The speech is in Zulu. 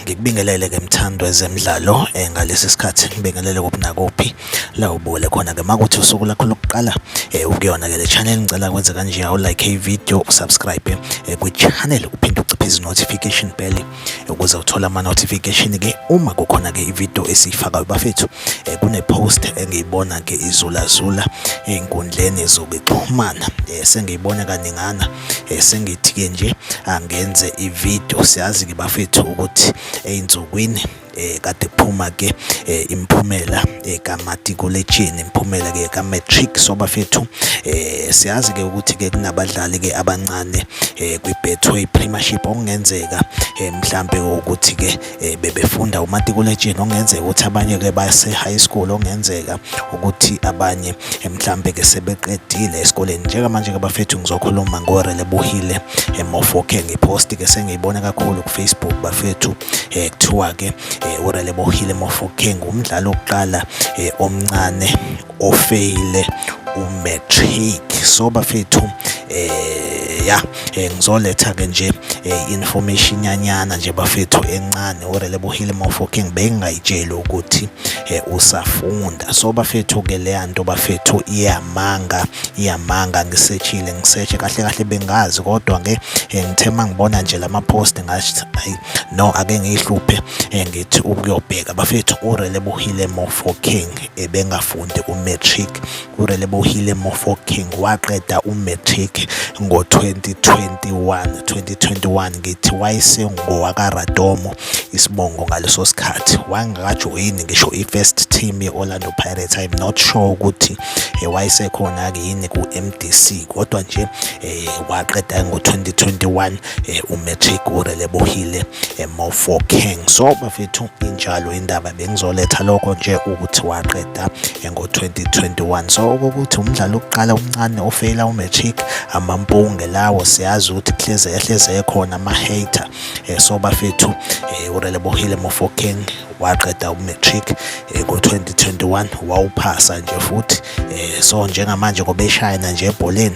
ngikubingelele ke mthandwa ezemidlalo eh, ngalesi sikhathi ngibingelele kuphi nakuphi la ubukele khona ke makuthi usuku lakho lokuqala eh, ukuyona ke le channel ngicela kwenze kanje awu like i video usubscribe eh, kwi channel uphinde uciphe izi notification bell ukuze uthole ama notification ke uma kukhona ke ivideo esiyifakayo bafethu eh, kune post engiyibona ke izula zula ezinkundleni zokuxhumana eh, sengiyibona kaningana eh, sengithi ke nje angenze ivideo siyazi ke bafethu ukuthi einsukwini eh kade phuma ke eh, imphumela eh, kamatikuletsheni imphumela ke ka matric so bafethu eh siyazi ke ukuthi ke kunabadlali ke abancane eh kwi Betway Premiership okungenzeka eh mhlambe ukuthi ke eh, bebefunda umatikuletsheni okungenzeka ukuthi abanye ke base high school okungenzeka ukuthi abanye eh, mhlambe ke sebeqedile esikoleni njengamanje ke bafethu ngizokhuluma ngore lebuhile emofoke ngipost ke sengiyibona kakhulu ku Facebook bafethu eh, kuthiwa ke eh, urelebohile mofokeng umdlali wokuqala eh, omncane ofeyile umatric so bafethu eh ya eh, ngizoletha ke nje eh, information nyanyana nje bafethu encane urelebohile mofokeng bengayitsheli ukuthi eh, usafunda so bafethu ke leya nto bafethu iyamanga iyamanga ngisechile ngiseche kahle kahle bengazi kodwa ke ngithe mangibona nje lama post ngathi ayi no ake ngiyihluphe eh, ngithi ukuyobheka bafethu urelebohile mofo king ebengafundi umatric urelebohile mofo king waqeda umatric ngo-2021 2021 ngithi wayesengowakaradomo isibongo ngaleso sikhathi wangakajoyini ngisho i-first team ye-orlando pirates i'm not sure ukuthi eh, wayesekhona-ke yini ku-mdc kodwa nje um waqeda ngo-2021 eh, umatric urelebohile eh, mofokeng so bafethu injalo indaba bengizoletha lokho nje ukuthi waqeda eh, ngo-2021 so okokuthi umdlalo wokuqala omncane ofeyila umatric amampunge lawo siyazi ukuthi hleze ehleze ekhona ama-hater um so bafethu um urelebohile mofokeng waqeda umatric eh, ngo-2021 wawuphasa nje futhi eh, so njengamanje ngobeshayana nje ebholeni